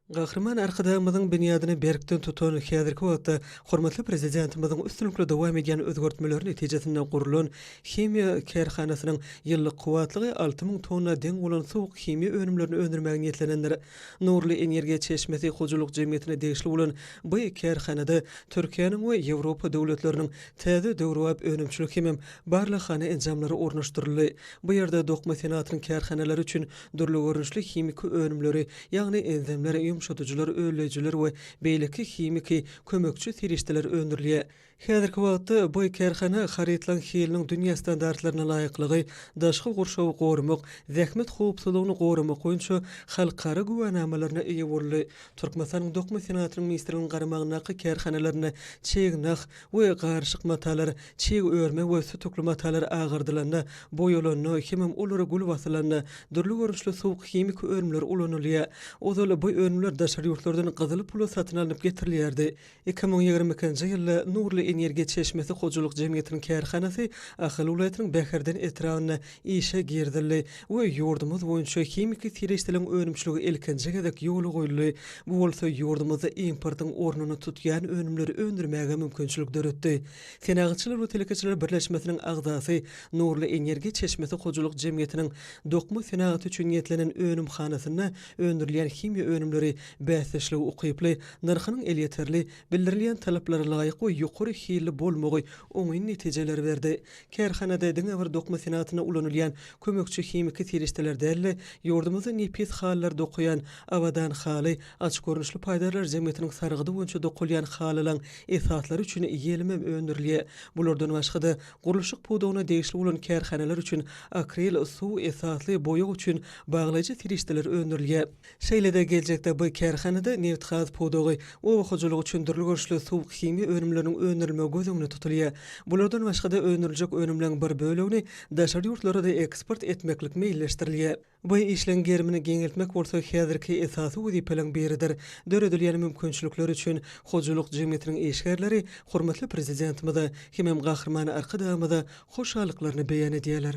Gahryman Arkadagymyzyň binýadyny berkden tutan, häzirki wagtda hormatly Prezidentimiziň üstünlikli dowam edýän özgertmeleri netijesinde gurlan himiýa kärhanasynyň ýyllyk kuwwatlygy alty müň tonna deň bolan suwuk himiýa önümlerini öndürmäge niýetlenendir. Nurly energiýa çeşmesi hojalyk jemgyýetine degişli bolan bu kärhanada Türkiýäniň we Ýewropa döwletleriniň täze döwrebap önümçilik hemem barlaghana enjamlary ornaşdyryldy. Bu ýerde dokma senatynyň kärhanalary üçin Dürli görnüşli himiki önümleri, ýagny enzimler, ýumşadyjylar, ölleýjiler we beýleki himiki, kömekçi serişdeler öndürilýär. Häzirki wagtda bu kärhana harytlaryň hiliniň dünýä standartlaryna laýyklygy, daşky gurşawy goramak, zähmet howpsuzlygyny goramak boýunça halkara güwänamalaryna eýe boldy. Türkmenistanyň dokma senagatynyň ministrliginiň garamagyndaky kärhanalarynda çeýe nah, we garyşyk matalar, çig örme we sütükli matalar agardylanda, boýalanda, hemem olara gül basylanda, dürli görnüşli suwuk himiki önümler ulanylýar. Ozal bu önümler daşary ýurtlardan gyzyl pula satyn alnyp getirilýärdi. Iki müň ýigrimi ikinji ýylda Nurly energiýa çeşmesi hojalyk jemgyýetiniň kärhanasy Ahal welaýatynyň Bäherden etrabynda işe girizildi we ýurdumyz boýunça himiki serişdeliň önümçiligi ilkinji gezek ýola goýuldy, bu bolsa ýurdumyzda importyň ornuny tutýan önümleri öndürmäge mümkinçilik döretdi. Senagatçylar we telekeçiler birleşmesiniň agzasy, Nurly energiýa çeşmesi hojalyk jemgyýetiniň dokma senagaty üçin niýetlenen önümhanasynda öndürilýän himiýa önümleri bäsdeşlige ukyply, nyrhynyň elýeterli, bildirilýän talaplara laýyk we ýokary hilli bolmagy oňyn netijeleri berdi. Kärhanada diňe bir dokma senagatynda ulanylýan kömekçi himiki serişdeler däl-de, ýurdumyzda nepis halylar dokaýan Abadan haly Aç görnüşli paýdarlar jemgyýetiniň sargydy boýunça dokalýan halylaň esaslary üçin ýelimem öndürilýär. Bulardan başga-da, gurluşyk pudagyna degişli bolan kärhanalar üçin akril, suw esasly boýag üçin baglaýjy serişdeler öndürilýär. Şeýle-de geljekde bu kärhanada nebitgaz pudagy, oba hojalygy üçin dürli görnüşli suwuk-himiýa önümleriniň öndürilmegi göz öňünde tutulýar. Bulardan başga-da öndüriljek önümleň bir bölegini daşary ýurtlara-da eksport etmeklik meýilleşdirilýär. Bu işleň gerimini giňeltmek bolsa häzirki esasy wezipeleň biridir. Döredilýän mümkinçilikler üçin hojalyk jemgyýetiniň işgärleri hormatly Prezidentimize hemem Gahryman Arkadagymyza hoşallyklaryny beýan edýärler.